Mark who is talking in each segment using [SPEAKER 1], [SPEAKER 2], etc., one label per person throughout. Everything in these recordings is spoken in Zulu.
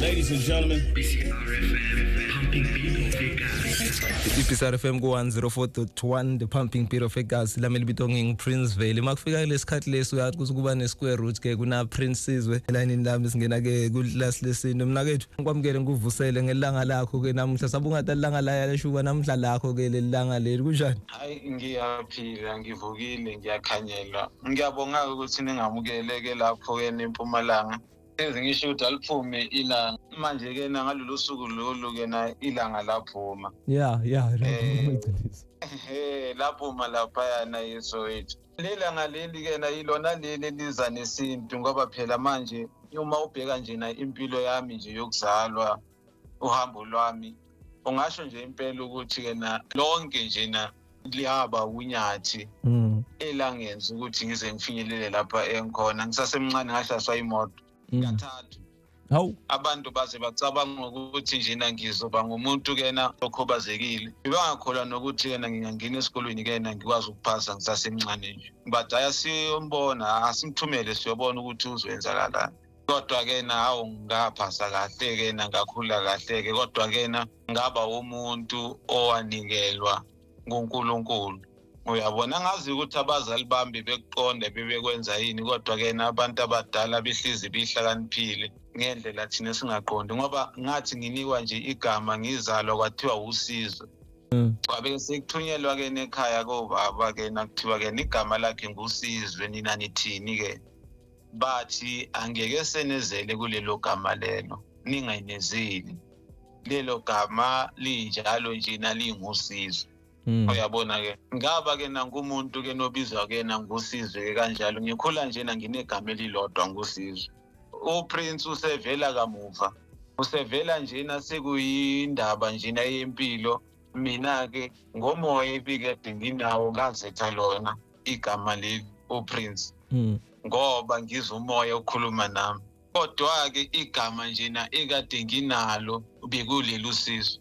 [SPEAKER 1] Ladies
[SPEAKER 2] and gentlemen, i-psr fm
[SPEAKER 3] ku-104.1 the pumping beat of egas lami libito nginguprince vele uma kufika kulesi khathi lesi uyazi ukuthi kuba ne-square root ke kuna-prince sizwe elayinini lami singena-ke kulasi lesintu mna kethu ngikwamukele ngikuvusele ngelanga lakho-ke namuhla sabe ungathi alilanga layashuba namuhla lakho-ke leli langa leli kunjani hayi ngiyaphila
[SPEAKER 4] ngivukile ngiyakhanyelwa ngiyabonga-ke ukuthi ningamukele-ke lapho-ke nempumalanga enze ngisho ukuthi aliphume ilanga manje ke na ngalolu suku lolu ke na ilanga laphuma yeah yeah ngiciniso eh laphuma lapha yana yesowethi lelanga leli ke na ilona leli liza nesintu ngoba phela manje uma ubheka nje na impilo yami nje yokuzalwa uhambo lwami ungasho nje impela ukuthi yena lonke njena liyaba unyathi mm. elangenza ukuthi ngize ngifinyelele lapha engikhona ngisasemncane ngashaswa imoto mm. kathathu hawu abantu baze bacabanga ukuthi njena ngizoba ngumuntu kena okhubazekile bebangakholwa nokuthi yena ngingangena esikolweni kena ngikwazi ukuphasa ngisasemncane nje but ayasiyombona asimthumele siyobona ukuthi uzoyenzakalani kodwa ke na hawu ngaphasa kahle ke na ngakhula kahle ke kodwa ke na ngaba umuntu owanikelwa nguNkulunkulu uyabona ngazi ukuthi abazali bami bekuqonde bebekwenza yini kodwa ke na abantu abadala bihlizi bihlakaniphile ngendlela thina singaqondi ngoba ngathi nginikwa nje igama ngizalwa kwathiwa usizo Mm. Wabe sekuthunyelwa ke nekhaya kobaba ke nakuthiwa ke igama lakhe ngusizwe nina nithini ke bathi angeke senezele kulelo gama lelo ningaynezeli lelo gama linjalo njena lingusizo Mm. uyabona ke ngaba ke nangumuntu ke nobizwa ke nangusizwe ke kanjalo ngikhula njena nginegama elilodwa ngusizwe uprince usevela kamuva usevela njena sekuyindaba njena yempilo mina ke ngomoya ibikade nginawo ngazetha lona igama leli uprince hmm. ngoba ngizwa umoya okhuluma nami kodwa-ke igama njena ekade nginalo bekuleli usizo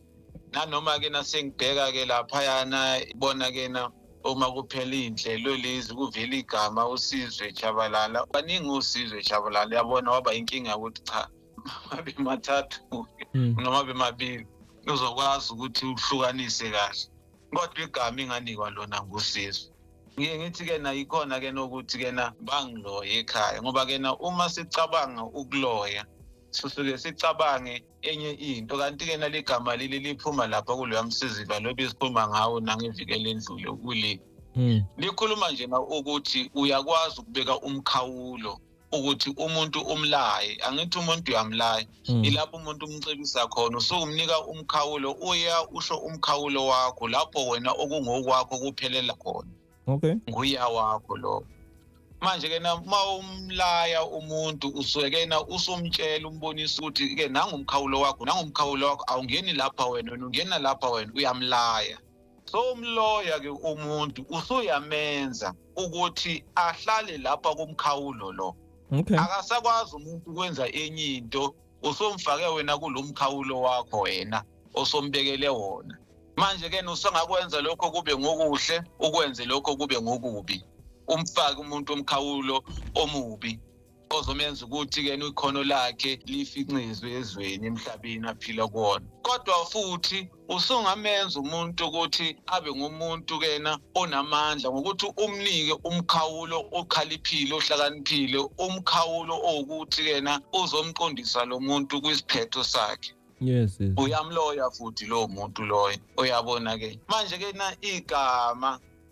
[SPEAKER 4] nanoma-ke nasengibheka-ke laphayana bona-ke na uma kuphela iy'nhlelo lezi kuvela igama usizwe jabalala baningi usizwe jabalala yabona waba inkinga yokuthi cha mabe mathathu hmm. noma bemabili uzokwazi ukuthi uhlukanise kahle kodwa igama inganikwa lona ngusisi ngiye ngithi-ke na yikhona-ke nokuthi-ke na bangiloye ekhaya ngoba-ke na uma sicabanga ukuloya sisuke sicabange enye into kanti-ke nale gama leli liphuma lapha kuloya msiziva lobe isikhuluma ngawo nangevikele endlule kule hmm. likhuluma nje na ukuthi uyakwazi ukubeka umkhawulo ukuthi umuntu umlaye angithi umuntu uyamlaya hmm. ilapho umuntu umcebisa khona usukumnika umkhawulo uya usho umkhawulo wakho lapho wena okungokwakho kuphelela khona okay nguya wakho lo manje ke uma umlaya umuntu usuke kena usumtshela umbonisa ukuthi ke nangumkhawulo wakho nangumkhawulo wakho awungeni lapha wena wena ungena lapha wena uyamlaya so umloya ke umuntu usuyamenza ukuthi ahlale lapha kumkhawulo lo okay akasakwazi umuntu ukwenza enye into usomfake wena kulomkhawulo wakho wena osombekele wona manje ke usangakwenza lokho kube ngokuhle ukwenze lokho kube ngokubi umfake umuntu omkhawulo omubi ozomenza ukuthi ke ikhono lakhe lifincizwe ezweni emhlabeni aphila kuwona kodwa futhi usungamenza umuntu ukuthi abe ngumuntu kena onamandla ngokuthi umnike umkhawulo okhaliphile ohlakaniphile umkhawulo owukuthi kena uzomqondisa lo muntu kwisiphetho sakhe yes, yes. uyamloya futhi lowo muntu loyo uyabona ke manje ke na igama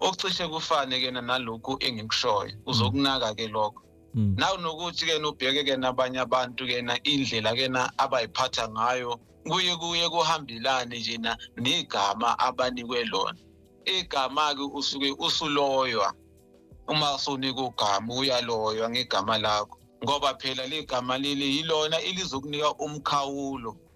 [SPEAKER 4] okucishe kufane kena nalokhu engikushoyo uzokunaka ke lokho Mm. naw nokuthi ke nobheke ke nabanye abantu ke na indlela ke na abayiphatha ngayo kuye kuye kuhambelane nje na negama abanikwe lona igama ke usuke usuloywa uma usunika ugama uyaloywa ngegama lakho ngoba phela ligama leli yilona elizokunika umkhawulo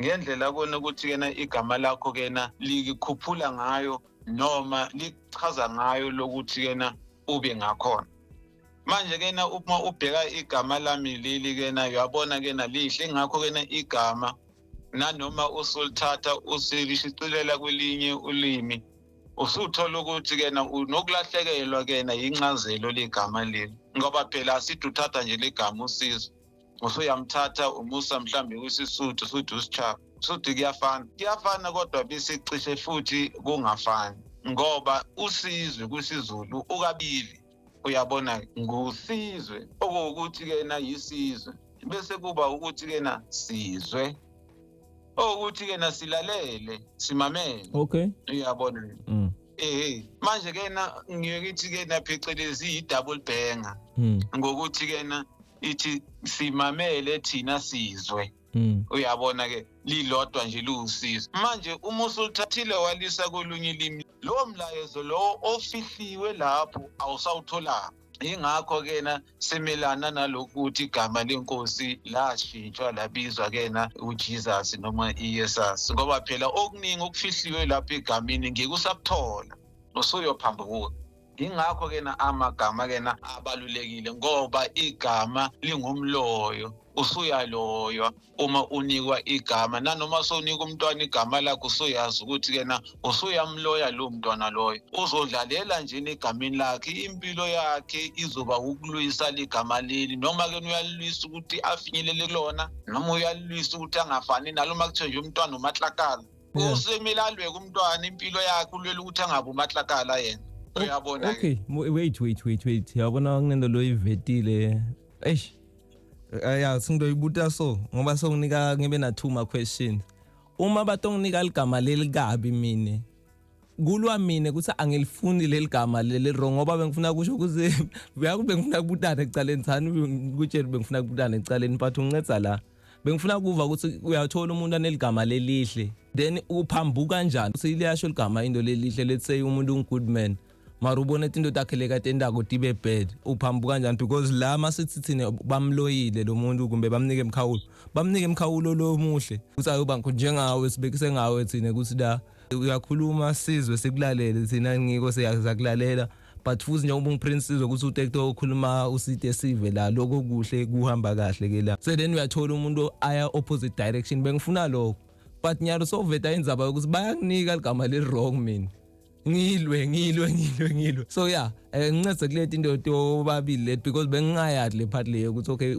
[SPEAKER 4] ngendlela kona ukuthi kena igama lakho kena likikhuphula ngayo noma lichaza ngayo lokuthi kena ube ngakhona manje kena uma ubheka igama lami leli kena uyabona kena lihle ngakho kena igama nanoma usulithatha usilishicilela kwelinye ulimi usuthola ukuthi kena unokulahlekelwa kena yincazelo legama leli ngoba phela asithi uthatha nje legama usizo usuyamthatha umusa mhlawumbe kwisisuthu usuthu usichaba usuthu kuyafana kuyafana kodwa besicishe futhi kungafani ngoba usizwe kwisizulu ukabili uyabona ngusizwe okuwukuthi-ke na yisizwe bese kuba ukuthi-ke na sizwe owukuthi ke nasilalele simamele okay uyabona
[SPEAKER 3] mm.
[SPEAKER 4] eh manje ke na ngiyokuthi ke na phecelezi i double banger mm. ngokuthi ke na ithi simamele thina sizwe Hmm. uyabona ke lilodwa nje liwusizo manje uma usulithathile walisa kolunye ilimi lowo mlayezo lowo ofihliwe lapho awusawutholanga yingakho kena simelana nalokuthi igama lenkosi lashintshwa labizwa kena uJesus noma iYesus ngoba phela okuningi okufihliwe lapha egamini ngeke usakuthola usuyophambuka yingakho kena amagama kena abalulekile ngoba igama lingumloyo usuyaloywa uma unikwa igama nanoma sowunika umntwana igama lakhe usuyazi ukuthi kena usuyamloya lowo mntwana loyo uzodlalela nje egameni lakhe impilo yakhe izoba ukulwisa ligama leli noma ke uyalilwisa ukuthi afinyelele kulona noma uyalilwisa ukuthi angafani nalo uma kuthiwe nje umntwana umatlakala usemele alweke umntwana impilo yakhe ulwela ukuthi angabi umatlakala yena uyabona okay wait
[SPEAKER 3] wait wait wait yabona kunento loyivetile eish Eh, ya singidoyibuta so ngoba songinika ngibe na two ma questions uma batonginika ligama lelikabi mina kulwa mina ukuthi angilifuni leli gama leli wrong ngoba bengifuna kusho ukuthi uyaku bengifuna kubutana ekucaleni thani kutshela bengifuna kubutana ekucaleni but unginceda la bengifuna kuva ukuthi uyathola umuntu aneligama lelihle then uphambuka kanjani ukuthi liyasho ligama into lelihle let's say umuntu ungood man mara ubone tinto takhe lekatendako tibe bad uphambuka kanjani because la masithi thina bamloyile lo muntu kumbe bamnike emkhawulo bamnike emkhawulo lo muhle ukuthi ayoba njengawe sibekise ngawe thina ukuthi la uyakhuluma sizwe sikulalele thina ngiko siyakulalela but futhi njengoba ungiprince sizwe ukuthi utekto okhuluma usite sive la lokho kuhle kuhamba kahle ke la so then uyathola umuntu aya opposite direction bengifuna lokho but nyalo soveta indzaba yokuthi bayakunika ligama leli wrong mina ngilwe ngilwe ngilwe ngilwe so yeah eh, ngincede kuleti into yobabili let because bengingayadi le part leyo ukuthi okay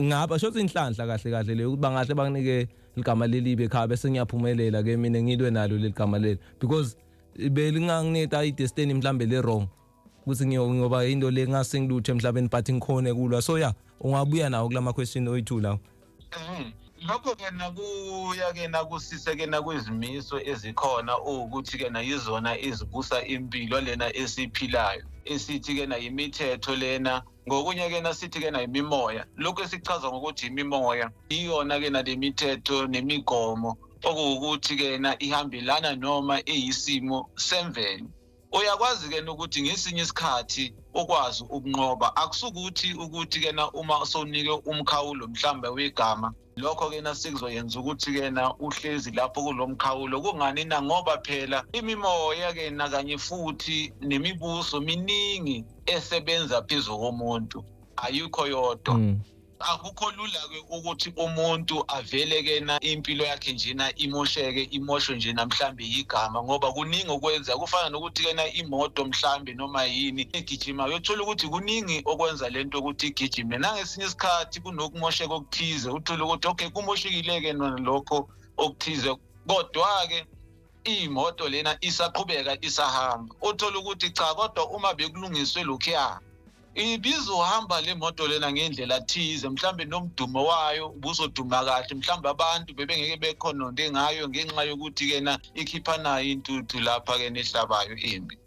[SPEAKER 3] ngapha shothi inhlanhla kahle kahle leyo ukuthi bangahle banginike ligama lelibe ekhaya bese ngiyaphumelela ke mina ngilwe nalo leligama leli because belingangineta i destiny mhlambe le wrong ukuthi ngiyoba into le ngasengilutho emhlabeni but ngikhone kulwa so ya ungabuya nawo kulama question oyithu lawo mhm.
[SPEAKER 4] lokho ke nakuya ke nakusise ke nakwizimiso ezikhona ukuthi ke na yizona izibusa impilo lena esiphilayo esithi ke na yimithetho lena ngokunye ke nasithi ke na yimimoya lokho esichaza ngokuthi yimimoya iyona ke na lemithetho nemigomo okuwukuthi ke na ihambelana noma eyisimo semvelo uyakwazi ke ukuthi ngesinye isikhathi ukwazi ukunqoba akusukuthi ukuthi kena uma sonike umkhawulo mhlambe wegama lokho ke nasikuzoyenza ukuthi ke na uhlezi lapho kulomkhawulo kungani na ngoba phela imimoya ke na kanye futhi nemibuso miningi esebenza phezulu komuntu ayikho yodwa mm. akukho lula-ke ukuthi umuntu aveleke na impilo yakhe njena imosheke imoshwe nje namhlawumbe yigama ngoba kuningi okwenza kufana nokuthi-ke na imoto mhlawumbe noma yini egijima uyothola ukuthi kuningi okwenza le nto ukuthi igijime nangesinye isikhathi kunokumosheka okuthize uthole ukuthi okay kumoshekile-ke nona lokho okuthize kodwa-ke iyimoto lena isaqhubeka isahamba uthole ukuthi cha kodwa uma bekulungiswe lokhuya ibizohamba le moto lena ngendlela thize mhlawumbe nomdumo wayo ubuzoduma kahle mhlawumbe abantu bebengeke bekhononde ngayo ngenxa yokuthi kena ikhiphanayo intuthu lapha kena ehlabayo imbi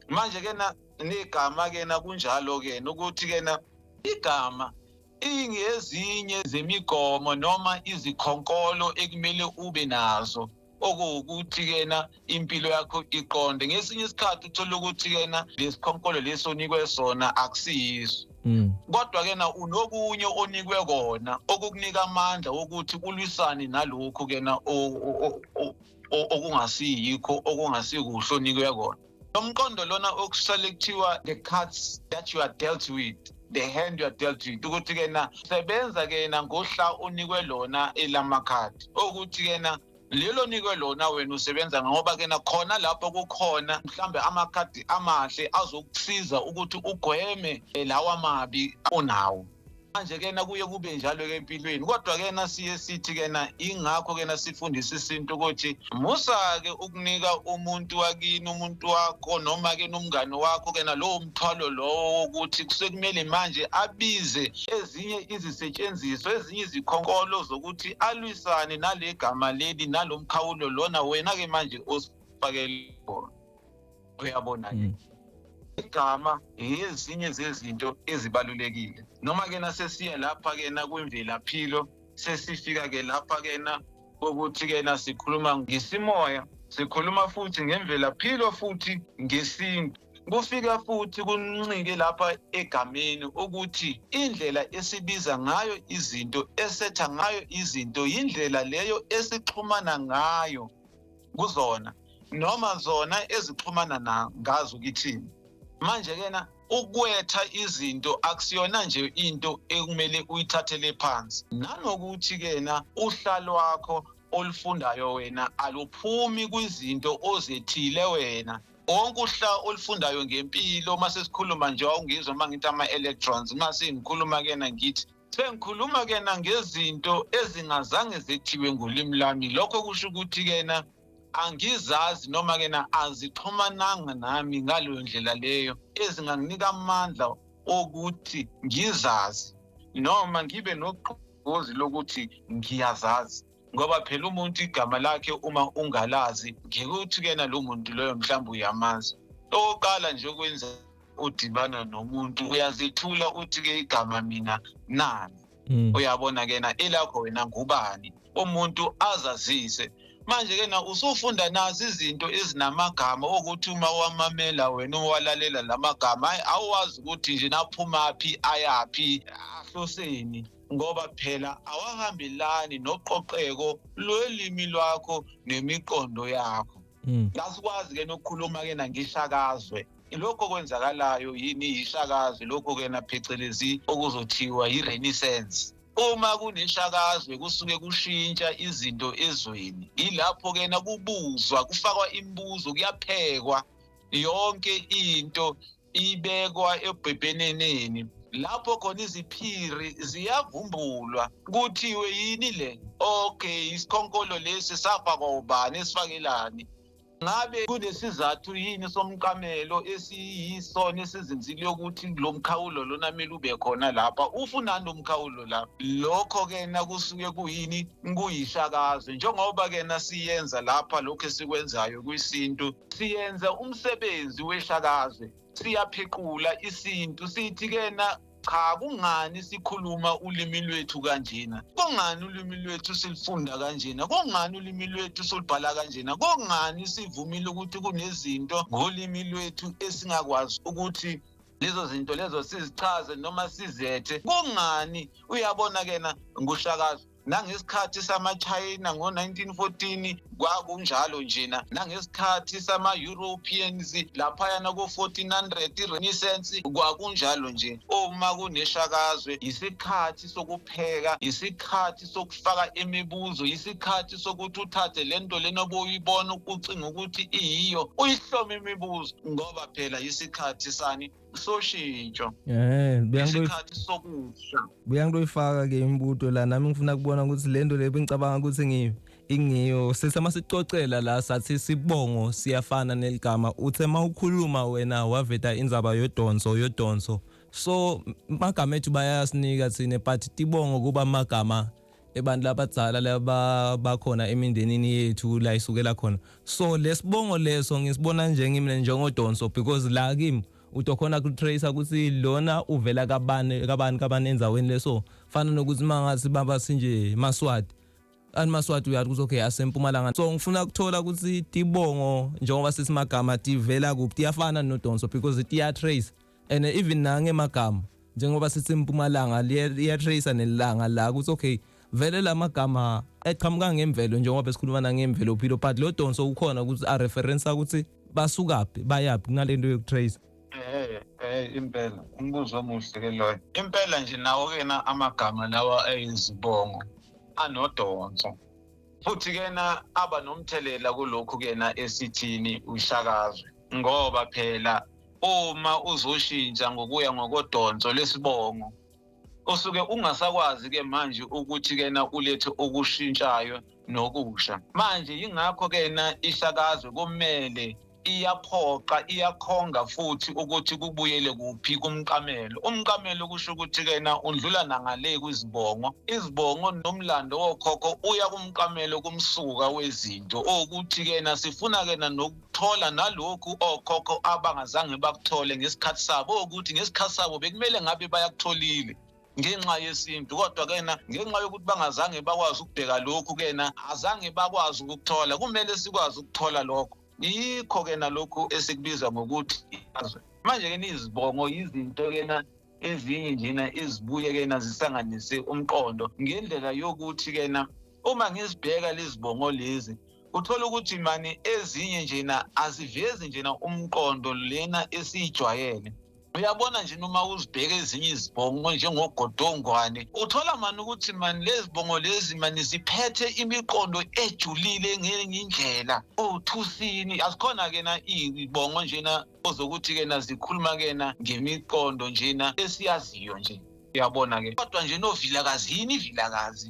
[SPEAKER 4] manje kena negama kena kunjalo kena ukuthi kena igama ingezinye zemigomo noma izikhonkolo ekumele ube nazo okuwukuthi kena impilo yakho iqonde ngesinye isikhathi uthola ukuthi kena lesikhonkolo lesi onikwe sona akusiyiso Mm. kodwa ke na unokunye onikwe kona okukunika amandla wokuthi ulwisane nalokhu ke na o- o- o- o- okungasiyikho okungasikuhle onikwe kona lomqondo lona okusale kuthiwa the cards that you are dealt with the hand you are dealt with ukuthi kena sebenza kena ngohla unikwe lona elamakhadi okuthi kena lelo nikwe lona wena usebenza ngoba kena khona lapho kukhona mhlambe amakhadi amahle azokusiza ukuthi ugweme eh, lawa mabi onawo manje kena kuye kube njalo ke empilweni kodwa kena siye sithi kena ingakho kena sifundisa isintu ukuthi musa ke ukunika umuntu wakini umuntu wakho noma ke nomngane wakho kena lowo mthwalo lowo wokuthi kusekumele manje abize ezinye izisetshenziswa ezinye izikhonkolo zokuthi alwisane nale gama leli nalomkhawulo lona wena ke manje osifakele bona uyabona-ke mm. igama ngezinye zezinto ezibalulekile noma-ke nasesiya lapha-ke nakwimvelaphilo sesifika-ke lapha-ke na kokuthi-ke na sikhuluma ngesimoya sikhuluma futhi ngemvelaphilo futhi ngesintu kufika futhi kuncike lapha egameni ukuthi indlela esibiza ngayo izinto esetha ngayo izinto yindlela leyo esixhumana ngayo kuzona noma zona ezixhumana na ngazi ukithini manje kena ukwetha izinto akusiyona nje into ekumele uyithathele phansi nanokuthi kena uhla lwakho olufundayo wena aluphumi kwizinto ozethile wena wonke uhla olufundayo ngempilo uma sesikhuluma nje wawungizwa uma ngithi ama-electrons uma sengikhuluma kena ngithi sengikhuluma kena ngezinto ezingazange zethiwe ngolimi lami lokho kusho ukuthi kena angizazi noma kena azixhumananga nami ngaleyo ndlela leyo ezinganginika amandla okuthi ngizazi noma ngibe nogqozi lokuthi ngiyazazi ngoba phela umuntu igama lakhe uma ungalazi ngeke uthi kena lo muntu loyo mhlawumbe uyamazi okokuqala nje okwenza udibana nomuntu uyazithula uthi-ke igama mina nani mm. uyabona kena elakho wena ngubani umuntu azazise manje-ke na usufunda nazi izinto ezinamagama okuthi uma wamamela wena owalalela la magama hhayi awuwazi ukuthi nje naphumaphi ayaphi ahloseni ngoba phela awahambelani noqoqeko lwelimi lwakho nemiqondo yakho hmm. kasikwazi ke nokukhuluma ke nangishakazwe lokho kwenzakalayo yini yishakazwe lokho ke naphecelezi okuzothiwa yi-renaissance uma kuneshakazwe kusuke kushintsha izinto ezweni yilapho ke nakubuzwa kufakwa imibuzo kuyaphekwa yonke into ibekwa ebhebheneneni lapho khona iziphiri ziyavumbulwa kuthiwe yini le okay isikhonkolo lesi safakwa ubani esifakelani ngabe kunesizathu yini somqamelo esiyisona esizinzile ukuthi lo mkhawulo lona kumele ube khona lapha ufunani umkhawulo la lokho-ke na kusuke kuyini kuyihlakaze njengoba-ke na siyenza lapha lokhu esikwenzayo kwisintu siyenza umsebenzi weshakazwe siyaphequla isintu sithi kena cha kungani sikhuluma ulimi lwethu kanjena kungani ulimi lwethu silifunda kanjena kungani ulimi lwethu solibhala kanjena kungani sivumile ukuthi kunezinto ngolimi lwethu esingakwazi ukuthi lezo zinto lezo sizichaze noma sizethe kungani uyabona kena ngushakazi nangesikhathi samachina ngo-1914 kwakunjalo njena nangesikhathi sama-europeans laphayana ko-1400 i-renaissance kwakunjalo nje uma kuneshakazwe yisikhathi sokupheka yisikhathi sokufaka imibuzo yisikhathi sokuthi uthathe le nto lena obuyibona ukucinga ukuthi iyiyo uyihlome imibuzo ngoba phela yisikhathi sani soshintsho eh isikhathi sokusha buya ngitoyifaka
[SPEAKER 3] ke imibuto la nami ngifuna kubona ukuthi lento leyo bengicabanga ukuthi ngiyo ingiyo sesama sicocela la sathi sibongo siyafana neligama uthe mawukhuluma wena waveta inzaba yodonso yodonso so magama ethu bayasinika thina but tibongo kuba magama abantu labadzala laba bakhona emindenini yethu la isukela khona so lesibongo leso ngisibona nje ngimina njengodonso because la kimi utokhona kutrace ukuthi lona uvela kabani kabani kabani enzaweni leso fana nokuthi mangathi baba sinje maswati ani maswati uyathi ukuthi okay asempumalanga so ngifuna ukuthola ukuthi tibongo njengoba sesimagama tivela kuphi tiyafana nodonso because tiyatrace and even nange magama njengoba sithi impumalanga liya tracer nelanga la ukuthi okay vele lamagama eqhamuka ngemvelo njengoba besikhuluma nangemvelo philo but lo donso ukhona ukuthi a reference ukuthi basukaphi bayaphi kunalento yokutracer eh eh
[SPEAKER 4] impela umbuzo omuhle ke loyo impela nje nawo kena amagama lawa ayizibongo anodonso futhi kena aba nomthelela kulokhu kena esithini ushakazwe ngoba phela uma uzoshintsha ngokuya ngokodonso lesibongo osuke ungasakwazi ke manje ukuthi kena ulethe okushintshayo nokusha manje yingakho kena ihlakazwe kumele iyaphoqa iyakhonga futhi ukuthi kubuyele kuphi kumqamelo umqamelo kusho ukuthi kena undlula nangale kwizibongo izibongo nomlando wokhokho uya kumqamelo kumsuka wezinto ukuthi kena sifuna kena thola nalokhu okhokho abangazange bakuthole ngesikhathi sabo ukuthi ngesikhathi sabo bekumele ngabe bayakutholile ngenxa yesintu kodwa kena ngenxa yokuthi bangazange bakwazi ukubheka lokhu kena azange bakwazi ukuthola kumele sikwazi ukuthola lokho yikho kena lokhu esikubiza ngokuthi izwe manje kena izibongo yizinto kena ezinye njena ezibuye kena zisanganise umqondo ngendlela yokuthi kena uma ngizibheka lezibongo lezi uthola ukuthi mani ezinye njena azivezi njena umqondo lena esiyijwayele uyabona nje noma uzibheka ezinye izibongo njengogodongwane uthola mani ukuthi mani lezi bongo lezi mani ziphethe imiqondo ejulile ngenye indlela othusini azikhona-ke na iyibongo njena ozokuthi-ke na zikhuluma-ke na ngemiqondo njena esiyaziyo nje uyabona-ke kodwa nje novilakazi yini ivilakazi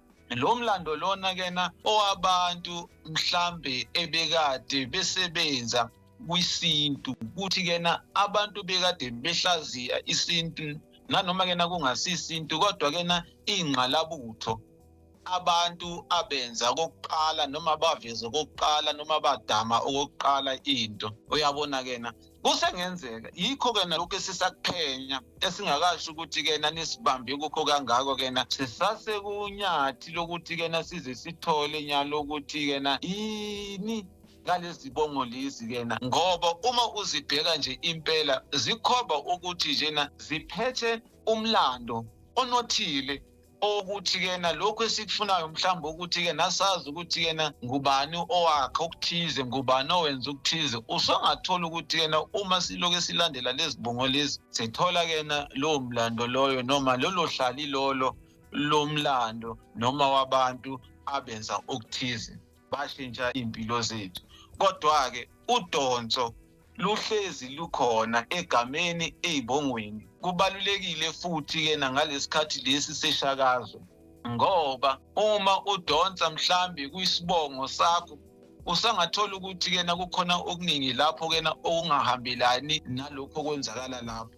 [SPEAKER 4] lo mlando lona kena owabantu mhlambe ebekade besebenza kwisintu ukuthi kena abantu bekade behlaziya isintu nanoma kena kungasisintu kodwa kena ingqalabutho abantu abenza kokuqala noma baveze kokuqala noma badama okokuqala into uyabona kena kusengenzeka yikho-ke nalokhu esisakuphenya esingakasho ukuthi-ke nanisibambe kukho kangako-ke na sisasekunyathi lokuthi-ke na size sithole nyalo ukuthi-ke na yini ngalezi bongo lezi kena ngoba uma uzibheka nje impela zikhomba ukuthi njena ziphethe umlando onothile okuthi kena lokhu esikufunayo mhlawumbe ukuthi ke nasazi ukuthi kena ngubani owakhe okuthize ngubani owenza ukuthize usungathola ukuthi kena uma siloke silandela lezibongo lezi sithola kena lowo mlando loyo noma lolo hlali lolo lomlando noma wabantu abenza okuthize bashintsha iy'mpilo zethu kodwa-ke udonso luhlezi lukhona egameni ey'bongweni kubalulekile futhi-ke nangalesikhathi lesi seshakazo ngoba uma udonsa mhlambi kwisibongo sakho usangathola ukuthi kena kukhona okuningi lapho kena okungahambelani nalokho okwenzakala lapho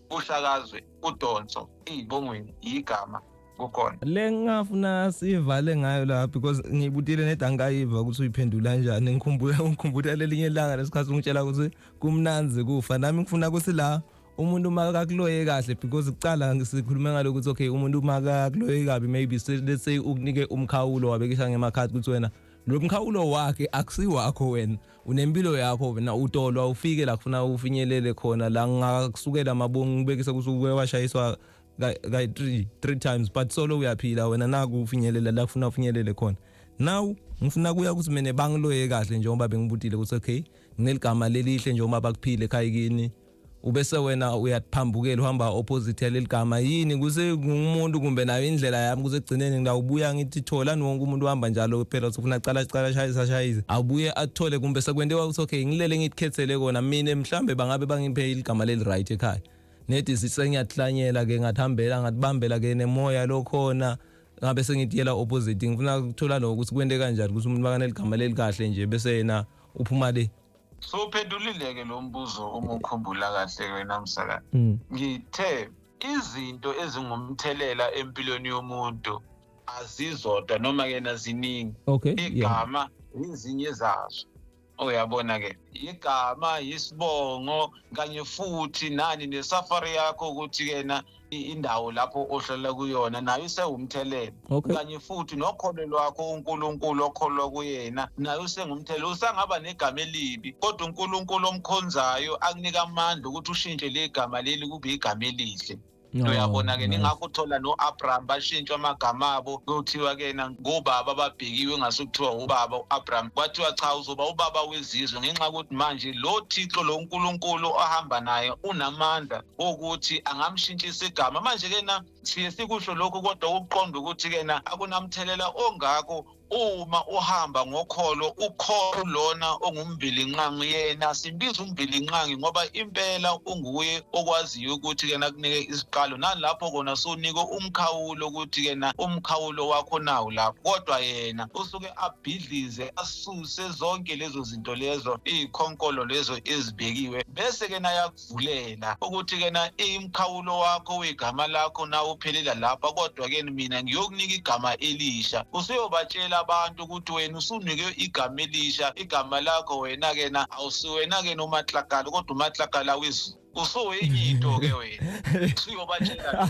[SPEAKER 4] kushakazwe udonso iyibongweni yigama kukhona le ngingafuna
[SPEAKER 3] sivale ngayo la because ngibutile neda angayiva ukuthi uyiphendula kanjani ngikhumbula ngikhumbula lelinye ilanga lesikhathi ungitshela ukuthi kumnanzi kufa nami ngifuna ukuthi la umuntu uma kakuloye kahle because kuqala sikhulume ngalokho ukuthi okay umuntu uma kakuloye kabi maybe let's say ukunike umkhawulo wabekisha ngemakhadi ukuthi wena lo mkhawulo wakhe akusiwakho wena unempilo yakho wena utolwa ufike la kufuna ufinyelele khona la ngakusukela amabongo ngibekise kusuke washayiswa kayi three three times but solo uyaphila wena naku ufinyelela la kufuna ufinyelele khona now ngifuna kuya ukuthi mina bangiloye kahle njengoba bengibutile ukuthi okay ngineligama lelihle njengoba bakuphile ekhaya kini ubese wena uyaphambukela uhamba opposite yaleli gama yini kuse ngumuntu kumbe nayo indlela yami kuse gcineni ngidawubuya ngithi thola wonke umuntu uhamba njalo phela usufuna cala cala shayisa shayisa awubuye athole kumbe sekwente wakuthi okay ngilele ngitkhethele kona mina mhlambe bangabe bangiphe iligama leli right ekhaya nedi sisengiyahlanyela ke ngathambela ngatibambela ke nemoya lokhona ngabe sengidiyela opposite ngifuna ukuthola lokho ukuthi kwente kanjani ukuthi umuntu bakaneligama leli kahle nje bese yena uphuma le so uphendulile-ke
[SPEAKER 4] lo mbuzo uma ukhumbula kahle wena msaka mm. ngithe izinto ezingumthelela empilweni yomuntu azizodwa noma kena ziningi okay, igama
[SPEAKER 3] yeah.
[SPEAKER 4] izinye zazo uyabona ke igama isibongo kanye futhi nani nesafari yakho ukuthi kena indawo lapho ohlala kuyona nayo isewumthelela okay. kanye futhi nokholo lwakho uNkulunkulu okholwa kuyena nayo usengumthelela usangaba negama elibi kodwa uNkulunkulu omkhonzayo akunika amandla ukuthi ushintshe le gama leli kube igama elihle uyabona ke ningakho uthola no-abraham bashintshwa amagama abo kuthiwa ke na ngobaba ababhekiwe ngase kuthiwa ubaba u-abraham kwathiwa cha uzoba ubaba wezizwe ngenxa yokuthi manje lo thixo lo nkulunkulu ohamba naye unamandla ukuthi angamshintshisa igama manje kena siye sikusho lokhu kodwa ukuqonda ukuthi kena akunamthelela ongako uma uhamba ngokholo ukholo lona ongumbilinqangi yena simbiza umbilinqangi ngoba impela unguye okwaziyo ukuthi kena kunike isiqalo nalapho kona sunike umkhawulo ukuthi kena umkhawulo wakho nawo lapho kodwa yena usuke abhidlize asuse zonke lezo zinto lezo iy'khonkolo lezo ezibekiwe bese kena ukuzivulela ukuthi kena imkhawulo wakho uyigama lakho na uphelela lapha kodwa ke mina ngiyokunika igama elisha usuyobatshela abantu ukuthi wena usunike igama elisha igama lakho wena kena awusiwena ke nomatlakala kodwa umatlakala wezulu usuwenye into ke wena usuyobatshela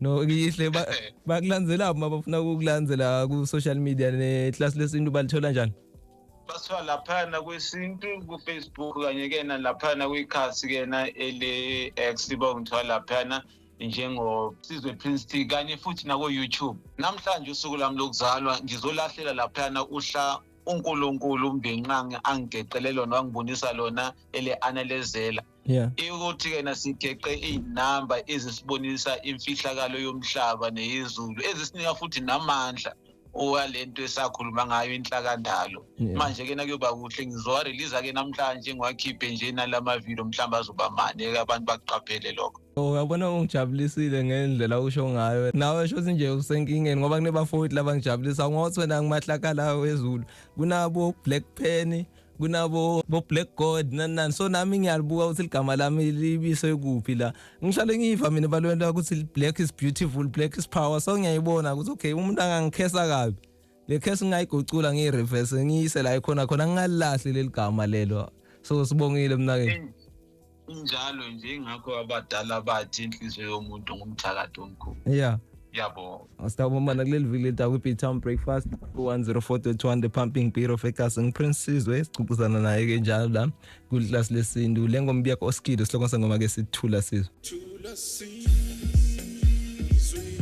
[SPEAKER 3] no ngihle bakulandzela uma bafuna ukukulandzela ku social media ne class lesintu balithola njani basithola
[SPEAKER 4] laphana kwesintu kufacebook kanye ke na laphana kwikhasi ke na ele-x bangithola laphana njengosizwe prince t kanye futhi nakoyoutube namhlanje usuku lami lokuzalwa ngizolahlela laphana uhla unkulunkulu umbinqange angigeqele lona wangibonisa lona ele-analezela yeah ukuthi kena sigeqe izinamba ezisibonisa imfihlakalo yomhlaba neyezulu ezisinika futhi namandla owalento esakhuluma ngayo inhlakandalo manje ke nakuyoba kuhle ngizowa release ke namhlanje ngiwakhiphe nje nalama video mhlawumbe azoba mane abantu bakuqaphele lokho Uyabona
[SPEAKER 3] ungijabulisile ngendlela usho ngayo. Nawe shothi nje usenkingeni ngoba kunebafowethu laba ngijabulisa ngothi wena ngimahlakala wezulu. Kunabo Black Penny, kunabo bo Black God nani nani. So nami ngiyalibuka ukuthi ligama lami libise kuphi la. Ngihlale ngiyiva mina balwela ukuthi black is beautiful, black is power. So ngiyayibona ukuthi okay umuntu angangikhesa kabi. le case ngingayigucula ngiyi-reverse ngiyise la ikhona khona ngingalilahli leli gama lelo so sibongile mnakeni injalo
[SPEAKER 4] nje ngakho abadala bathi inhliziyo yomuntu ngumthakathi omkhulu yeah yabo asitawubomana kuleli
[SPEAKER 3] viki leta kwi-b town breakfast ku-104.1 the pumping beer of egas ngiprince sizwe sicucuzana naye ke njalo la kulilasi lesintu le ngoma ibiyakho oskile sihloko sengoma ke sithula sizwe